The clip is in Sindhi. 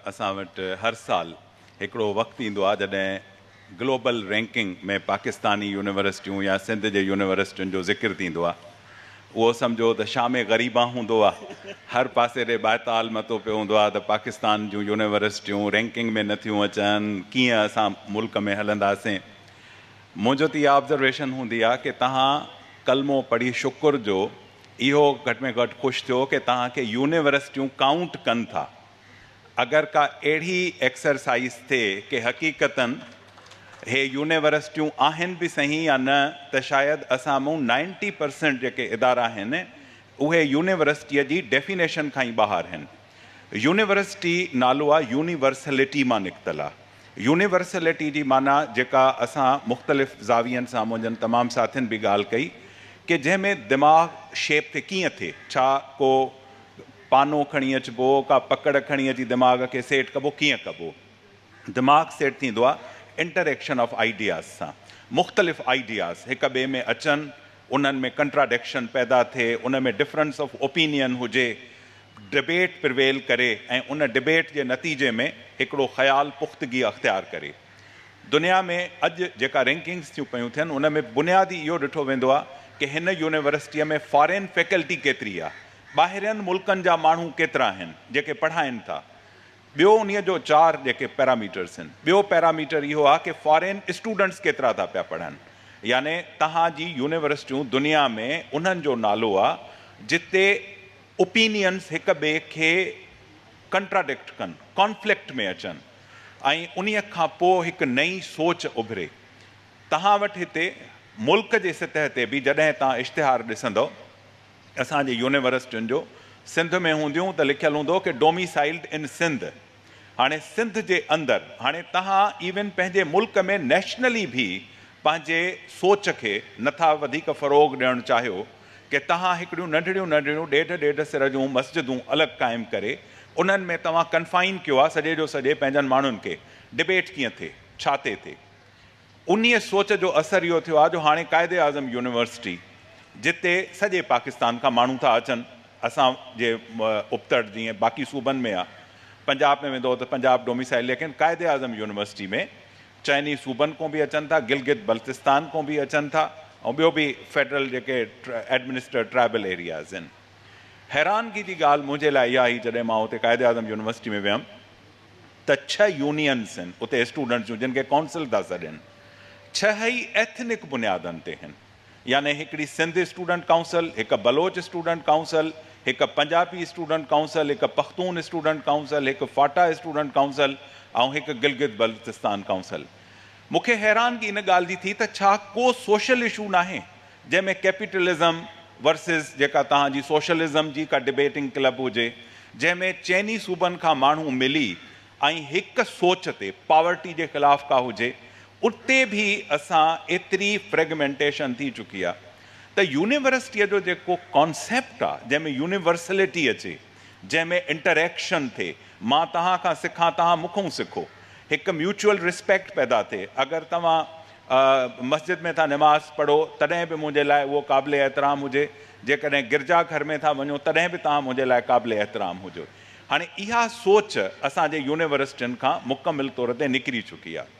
اسان وٽ هر سال هڪڙو وقت ايندو آهي جڏهن گلوبل رينڪنگ ۾ پاڪستاني يونيورسٽيون يا سنڌ جي يونيورسٽين جو ذڪر ٿيندو آهي اهو سمجهو ته شام غريبان هوندو آهي هر پاسي ڏي بايتال متو پيو هوندو آهي ته پاڪستان جون يونيورسٽيون رينڪنگ ۾ نٿيون اچن ڪيئن اسان ملڪ ۾ هلنداسين منهنجو ته اها آبزرويشن هوندي آهي ڪي تهان ڪلمو پڙهي شڪر جو اهو گهٽ ۾ گهٽ خوش ٿيو ڪي تهان کي يونيورسٽيون ڪائونٽ ڪن ٿا اگر ڪا اهڙي ايڪسرسائيز ٿئي ڪي حقيقتن هي يونيورسٽيون آهن به سهين يا نه ته شايد اسان مون نائنٽي پرسينٽ جيڪي ادارا آهن اهي يونيورسٽيء جي ڊيفينيشن کان ئي ٻاهر آهن. يونيورسٽي نالو آ يونيورسلٽي مان نڪتل آ. يونيورسلٽي جي معنيٰ جيڪا اسان مختلف زاوين سان منهنجن تمام ساٿين به ڳالهه ڪئي ڪي جنهن ۾ دماغ شيپ تي ڪيئن ٿئي ڇا ڪو پانو کڻي اچبو، ڪا پڪڙ کڻي اچي دماغ کي سيٽ ڪبو، ڪيئن ڪبو؟ دماغ سيٽ ٿيندو آ انٽريڪشن آف آئيڊياز سان، مختلف آئيڊياز هڪ ٻئي ۾ اچن، انهن ۾ ڪنٽراڊڪشن پيدا ٿئي، ان ۾ ڊفرنس آف اوپينين هجي، ڊبيٽ پرويل ڪري ۽ ان ڊبيٽ جي نتيجي ۾ هڪڙو خيال پختگي اختيار ڪري. دنيا ۾ اڄ جيڪا رينڪنگز ٿيون پيون ٿين ان ۾ بنيادي اهو ڏٺو ويندو آ ڪه هن يونيورسٽيء ۾ فارين فيڪلٽي ڪيتري آ، ٻاهرين ملڪن جا ماڻهو ڪيترا آهن جيڪي پڙهائين ٿا ٻيو انهي جو چار جيڪي پيراميٽرس آهن ٻيو پيراميٽر اهو آهي ڪي فارين اسٽوڊنٽس ڪيترا ٿا پيا پڙهن يعني تهان جي يونيورسٽيون دنيا ۾ انهن جو نالو آ جتي اوپينينس هڪ ٻئي کي ڪنٽراڊڪٽ ڪن ڪانفلڪٽ ۾ اچن ۽ انهي کان پو هڪ نئين سوچ اڀري تهان وٽ هتي ملڪ جي سطح تي به جڏهن تهان اشتهار ڏسندؤ اسان جي يونيورسٽين جو سنڌ ۾ هونديون ته لکيل هوندو ڪي ڊوميسائيلڊ ان سنڌ هاڻي سنڌ جي اندر هاڻي تهان ايون پنهنجي ملڪ ۾ نيشنلي ڀي پنهنجي سوچ کي نٿا وڌيڪ فروغ ڏيڻ چاهيو ڪي تهان هڪڙيون ننڍڙيون ننڍڙيون ڏيڍ ڏيڍ سر جون مسجدون الڳ قائم ڪري انهن ۾ توهان ڪنفائن ڪيو آ سڄي جو سڄي پنهنجن ماڻهن کي ڊبيٽ ڪيئن ٿي ڇا تي ٿي انهيء سوچ جو اثر اهو ٿيو آهي جو هاڻي قائد اعظم يونيورسٽي جتي سڄي پاڪستان کان ماڻهو ٿا اچن، اسان جي ابتڙ جيئن باقي صوبن ۾ آهي، پنجاب ۾ ويندؤ ته پنجاب ڊوميسائيل ليڪن قائد اعظم يونيورسٽي ۾ چئني صوبن کون به اچن ٿا، گلگت بلتستان کون به اچن ٿا ۽ ٻيو به فيڊرل جيڪي ايڊمنسٽريٽ ٽرائبل ايرياز آهن. حيرانگي جي ڳالهه منهنجي لاء اها هئي جڏهن مان اتي قائد اعظم يونيورسٽي ۾ ويم، ته ڇهه يونينز هن اتي اسٽوڊنٽس جون جن کي ڪائونسل ٿا سڏين ڇهه ئي ايٿنڪ بنيادن تي هن يعني هڪڙي سنڌ اسٽوڊنٽ ڪائونسل هڪ بلوچ اسٽوڊنٽ ڪائونسل هڪ پنجابي اسٽوڊنٽ ڪائونسل هڪ پختون اسٽوڊنٽ ڪائونسل هڪ فاٽا اسٽوڊنٽ ڪائونسل ۽ هڪ گلگت بلتستان ڪائونسل مونکي حيرانگي ان ڳالهه جي ٿي ته ڇا ڪو سوشل اشو ناهي جنهن ۾ ڪيپيٽلزم ورسز جيڪا توهان جي سوشلزم جي ڪا ڊبيٽنگ ڪلب هجي جنهن ۾ چئني صوبن کان ماڻهو ملي ۽ هڪ سوچ تي پاورٽي جي خلاف ڪا هجي اتي به اسان ايتري فريگمينٽيشن ٿي چڪي آ ته يونيورسٽيء جو جيڪو ڪانسيپٽ آ جنهن ۾ يونيورسلٽي اچي جنهن ۾ انٽريڪشن ٿئي مان توهان کان سکان توهان مون کون سکو هڪ ميوچل ريسپيڪٽ پيدا ٿئي اگر توهان مسجد ۾ ٿا نماز پڙهو تڏهن به منهنجي لاء اهو قابل احترام هجي، جيڪڏهن گرجا گهر ۾ ٿا وڃو تڏهن به توهان منهنجي لاء قابل احترام هجو. هاڻي اها سوچ اسان جي يونيورسٽين کان مڪمل طور تي نڪري چڪي آهي.